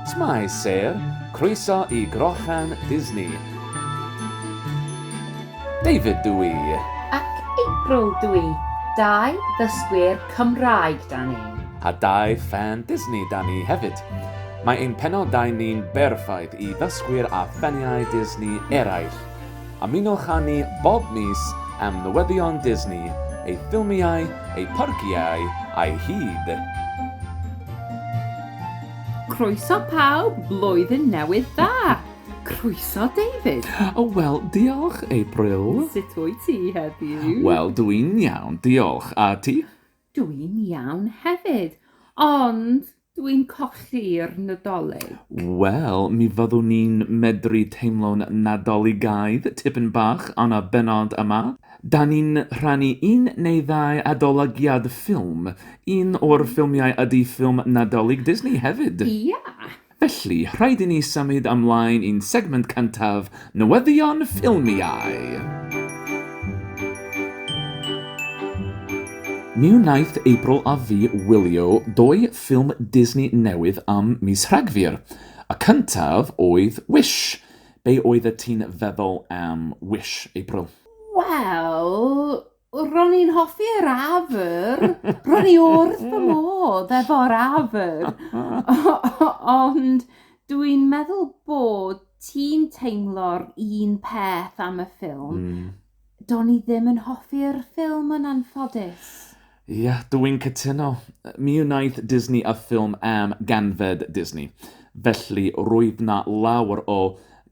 Shwmae Sêr, croeso i Grochan Disney. David dw i. Ac April dw i. Dau ddysgwyr Cymraeg 'da ni. A dau ffan Disney 'da ni hefyd. Mae ein penodau ni'n berffaith i ddysgwyr a ffaniau Disney eraill. Ymunwch â ni bob mis am newyddion Disney, ei ffilmiau, ei pharciau a'i hyd! Croeso pawb, Blwyddyn Newydd Dda! Croeso David! O wel, diolch April! Sut wyt ti heddiw? Wel, dw i'n iawn, diolch. A ti? Dw i'n iawn hefyd, ond Dw i'n colli'r Nadolig. Wel, mi fyddwn ni'n medru teimlo'n Nadoligaidd tipyn bach yn y bennod yma. Da ni'n rhannu un neu ddau adolygiad ffilm. Un o'r ffilmiau ydy ffilm Nadolig Disney hefyd. Ia! Felly, rhaid i ni symud ymlaen i'n segment cyntaf Newyddion Ffilmiau Mi wnaeth April a fi wylio dou ffilm Disney newydd am mis Rhagfyr. Y cyntaf oedd Wish. Be oeddet ti'n feddwl am Wish, April? Wel, Ro'n i'n hoffi yr afr. Ro'n i wrth fy modd efo'r afr. Ond dwi'n meddwl bod ti'n teimlo'r un peth am y ffilm. Mm. Do'n i ddim yn hoffi'r ffilm yn anffodus. Ie, yeah, dw i'n cytuno. Mi wnaeth Disney a ffilm am ganfed Disney. Felly, roedd na lawer o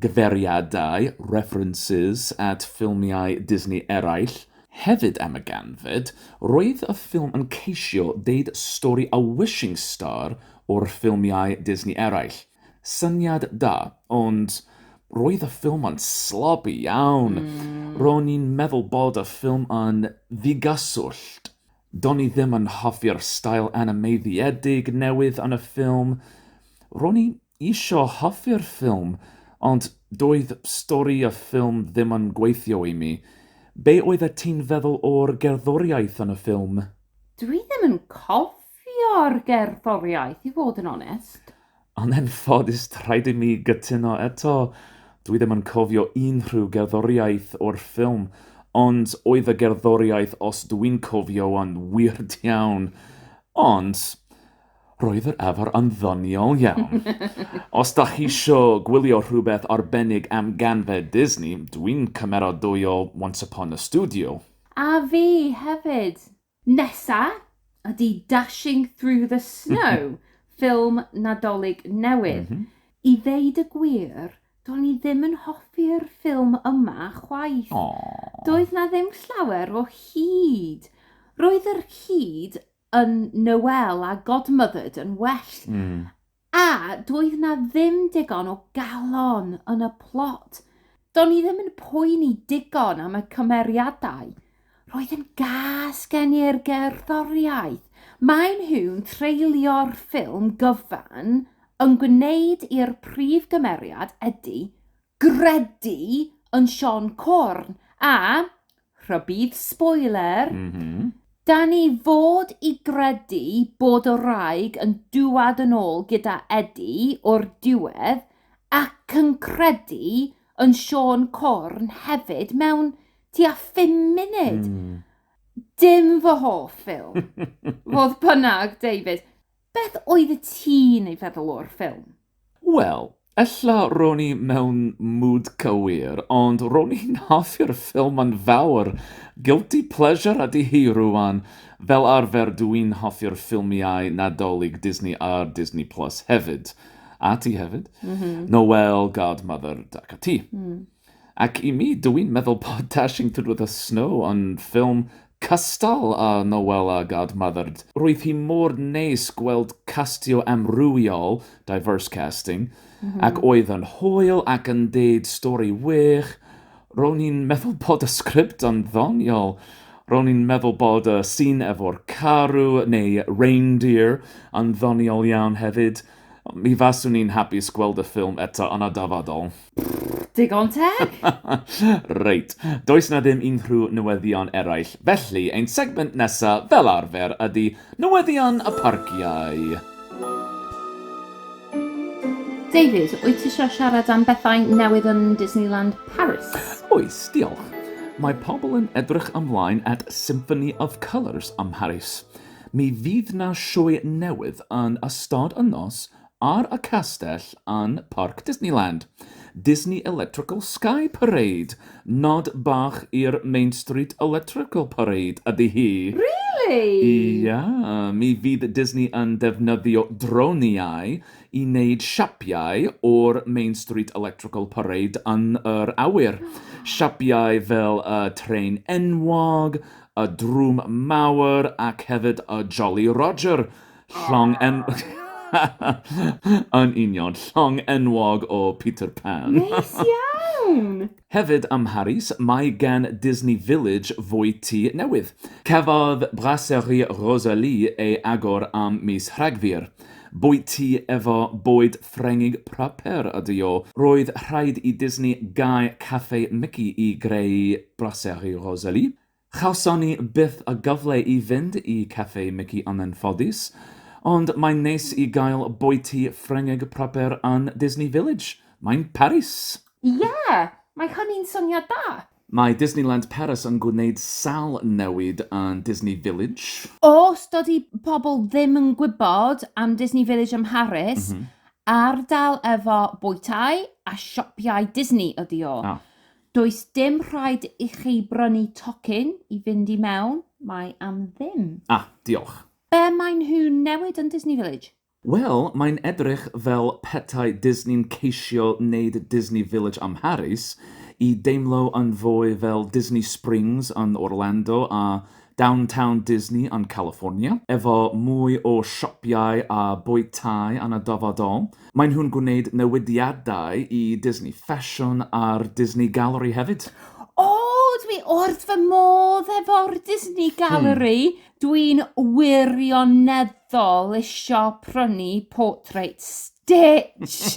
gyfeiriadau, references, at ffilmiau Disney eraill. Hefyd am y ganfed, roedd y ffilm yn ceisio deud stori a wishing star o'r ffilmiau Disney eraill. Syniad da, ond roedd y ffilm yn sloppy iawn. Ro'n i'n meddwl bod y ffilm yn ddigyswllt. Do'n i ddim yn hoffi'r stael animeiddiedig newydd yn y ffilm. Ro'n i isio hoffi'r ffilm, ond doedd stori y ffilm ddim yn gweithio i mi. Be oeddet ti'n feddwl o'r gerddoriaeth yn y ffilm? Dw i ddim yn cofio'r gerddoriaeth, i fod yn onest. Yn anffodus, rhaid i mi gytuno eto. Dw i ddim yn cofio unrhyw gerddoriaeth o'r ffilm, ond oedd y gerddoriaeth, os dw i'n cofio yn wir iawn. Ond, Roedd yr afr yn ddoniol iawn. Os da chi isio gwylio rhywbeth arbennig am ganfed Disney, dwi'n cymeradwyo Once Upon a Studio. A fi hefyd! Nesa ydi Dashing Through the Snow, ffilm Nadolig newydd. I ddeud y gwir, do'n i ddim yn hoffi'r ffilm yma chwaith. Doedd 'na ddim llawer o hud. Roedd yr hud yn Noelle a Godmothered yn well. Mm. A doedd na ddim digon o galon yn y plot. Do'n i ddim yn poeni digon am y cymeriadau. Roedd yn gas gen i'r gerddoriaeth. Maen nhw'n treulio'r ffilm gyfan yn gwneud i'r prif gymeriad, Eddie, gredu yn Siôn Corn a, rhybudd sboiler, dan ni fod i gredu bod y wraig yn dŵad yn ôl gyda Edi o'r diwedd ac yn credu yn Siôn Corn hefyd mewn tua phum munud. Dim fy hoff ffilm. Fodd bynnag, David, Beth oeddet ti'n ei feddwl o'r ffilm? Wel, ella ro'n i mewn mood cywir, ond ro'n i'n hoffi'r ffilm yn fawr. Guilty pleasure ydi hi rŵan. Fel arfer dw i'n hoffi'r ffilmiau Nadolig Disney ar Disney Plus hefyd. A ti hefyd? Noelle, Godmother ac ati. Ac i mi, dw i'n meddwl bod Dashing Through the Snow yn ffilm cystal â Noel a Godmothered. Roedd hi mor neis gweld castio amrywiol, diverse casting, ac oedd yn hwyl ac yn deud stori wych. Ro'n i'n meddwl bod y sgript yn ddoniol. Ro'n i'n meddwl bod y sîn efo'r carw, neu reindeer, yn ddoniol iawn hefyd. Mi faswn i'n hapus gweld y ffilm eto yn y dyfodol. Digon teg! Reit, does 'na ddim unrhyw newyddion eraill, felly ein segment nesa fel arfer ydi Newyddion y Parciau. David, wyt ti isio siarad am bethau newydd yn Disneyland Paris? Oes, diolch. Mae pobl yn edrych ymlaen at Symphony of Colours ym Mharis. Mi fydd 'na sioe newydd yn ystod y nos ar y castell yn Parc Disneyland, Disney Electrical Sky Parade, nod bach i'r Main Street Electrical Parade ydi hi. Really? Ia, mi fydd Disney yn defnyddio droniau i wneud siapiau o'r Main Street Electrical Parade yn yr awyr. Siapiau fel y trên enwog, y drwm mawr ac hefyd y Jolly Roger, llong en... yn union, llong enwog o Peter Pan. Neis iawn! Hefyd ym Mharis, mae gan Disney Village fwy tŷ newydd. Cafodd Brasserie Rosalie ei agor am mis Rhagfyr. Bwyty efo bwyd Ffrengig proper ydy o. Roedd rhaid i Disney gau Café Mici i greu Brasserie Rosalie. Chawson ni byth y gyfle i fynd i Café Mici yn anffodus, ond mae'n neis i gael bwyty Ffrengig proper yn Disney Village. Mae'n Paris! Ie! Mae hynny'n syniad da! Mae Disneyland Paris yn gwneud sawl newid yn Disney Village. Os dydy pobl ddim yn gwybod am Disney Village ym Mharis, ardal efo bwytai a sioppiau Disney ydy o. Does dim rhaid i chi brynu tocyn i fynd i mewn, mae am ddim. Ah, diolch. Be maen nhw'n newid yn Disney Village? Wel, mae'n edrych fel petai Disney'n ceisio neud Disney Village ym Mharis i deimlo yn fwy fel Disney Springs yn Orlando a Downtown Disney yn California, efo mwy o siopïau a bwytai yn y dyfodol. Maen nhw'n gwneud newidiadau i Disney Ffasiwn a'r Disney Gallery hefyd. O, dwi wrth fy modd efo'r Disney Gallery! Dwi'n wirioneddol isio prynu Portrait Stitch!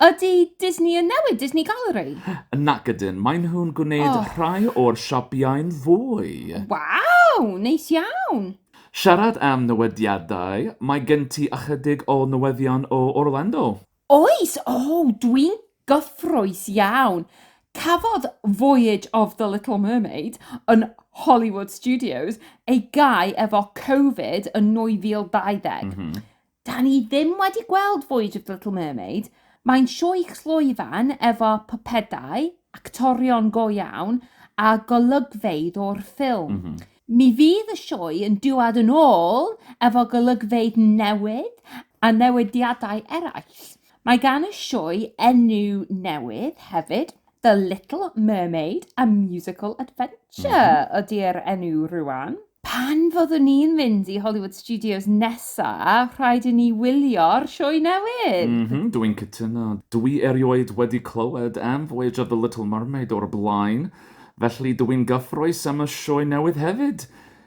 Ydy Disney yn newid Disney Gallery? Nac ydyn, maen nhw'n gwneud oh. rhai o'r siapiau'n fwy. Waw, neis iawn! Siarad am newediadau, mae gen ti ychydig o newyddion o Orlando. Oes, o, dwi'n gyffrous iawn. Cafodd Voyage of the Little Mermaid yn Hollywood Studios ei gau efo Covid yn 2020. Mm -hmm. Da ni ddim wedi gweld Voyage of the Little Mermaid. Mae'n sioe clwyfan efo pypedau, actorion go iawn a golygfeydd o'r ffilm. Mm -hmm. Mi fydd y sioe yn dŵad yn ôl efo golygfeydd newydd a newidiadau eraill. Mae gan y sioe enw newydd hefyd, The Little Mermaid, A Musical Adventure mm -hmm. ydy'r enw rwan. Pan fyddwn ni'n mynd i Hollywood Studios nesa, rhaid i ni wylio'r sioe newydd. Mm -hmm, Dwi'n cytuno. Dwi erioed wedi clywed am Voyage of the Little Mermaid o'r blaen. Felly dw i'n gyffrous am y sioe newydd hefyd!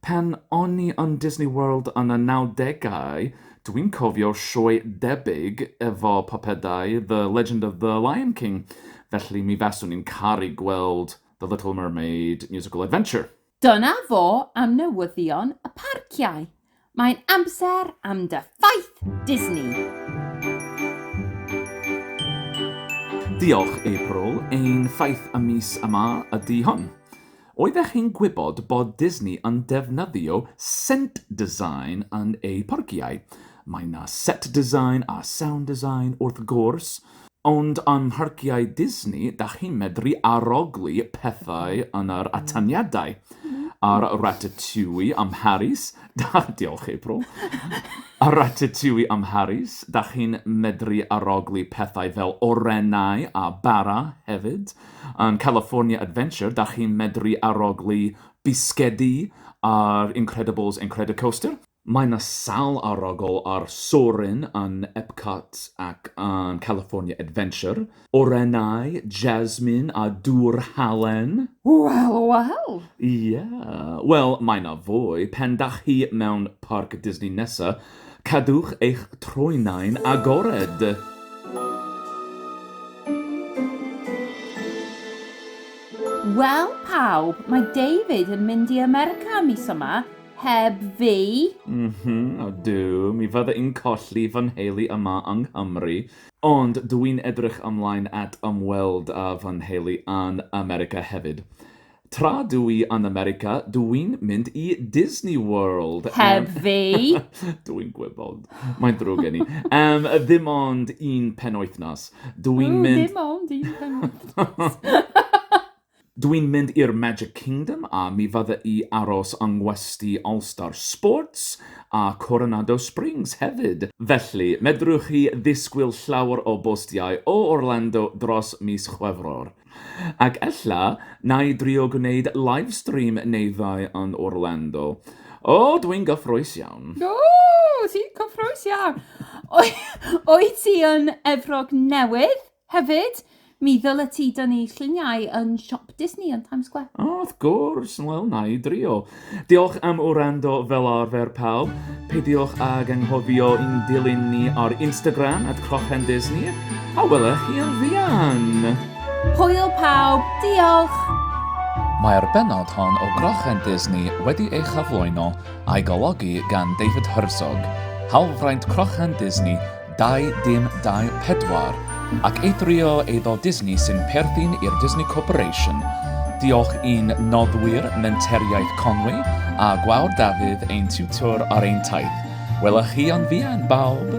Pan o'n i yn Disney World yn y nawdegau, dw i'n cofio sioe debyg efo pypedau The Legend of the Lion King, felly mi faswn i'n caru gweld The Little Mermaid Musical Adventure. Dyna fo am newyddion y parciau. Mae'n amser am dy ffaith Disney! Diolch, April. Ein ffaith y mis yma ydy hwn. Oeddech chi'n gwybod bod Disney yn defnyddio scent design yn eu parciau? Mae 'na set design a sound design, wrth gwrs. Ond yn mharciau Disney, dach chi'n medru arogli pethau yn yr atyniadau. A'r Ratatouille ym Mharis, diolch April, a'r Ratatouille ym Mharis, dach chi'n medru arogli pethau fel orennau a bara hefyd. Yn California Adventure, dach chi'n medru arogli bisgedi a'r Incredibles Incredicoaster. Mae 'na sawl arogl ar Soarin' yn Epcot ac yn California Adventure. Orennau, Jasmine a Dŵr Halen. Wel, wel! Ie. Wel, mae 'na fwy. Pan dach chi mewn Parc Disney nesa, cadwch eich troenau'n agored! Wel pawb, mae David yn mynd i America mis yma, Heb fi? M-hm, ydw, mi fydda i'n colli fy nheulu yma yng Nghymru, ond dw i'n edrych ymlaen at ymweld â fy nheulu yn America hefyd. Tra dw i yn America, dw i'n mynd i Disney World! Heb fi? Dw i'n gwybod, mae'n ddrwg gen i. Am ddim ond un penwythnos. Dw i'n mynd... O, ddim ond un penwythnos! Dwi'n mynd i'r Magic Kingdom a mi fydda i aros yng ngwesty All Star Sports a Coronado Springs hefyd, felly medrwch chi ddisgwyl llawer o bostiau o Orlando dros mis Chwefror. Ac ella 'na i drio gwneud livestream neu ddau yn Orlando. O, dwi'n gyffrous iawn! O! Ti'n cyffrous iawn! Wyt ti yn Efrog Newydd? Hefyd, mi ddylet ti dynnu lluniau yn siop Disney yn Times Square. O, wrth gwrs! Wel, na i drio. Diolch am wrando fel arfer pawb. Peidiwch ag anghofio i'n dilyn ni ar Instagram at CrochenDisney, a welech chi yn fuan! Hwyl pawb, diolch! Mae'r bennod hon o Grochen Disney wedi ei chyflwyno a'i golygu gan David Herzog, hawlfraint Crochen Disney, Dau dim dau pedwar, ac eithrio eiddo Disney sy'n perthyn i'r Disney Corporation. Diolch i'n noddwyr Menteriaeth Conwy a Gwawr Dafydd ein tiwtor ar ein taith. Wela chi yn fuan bawb!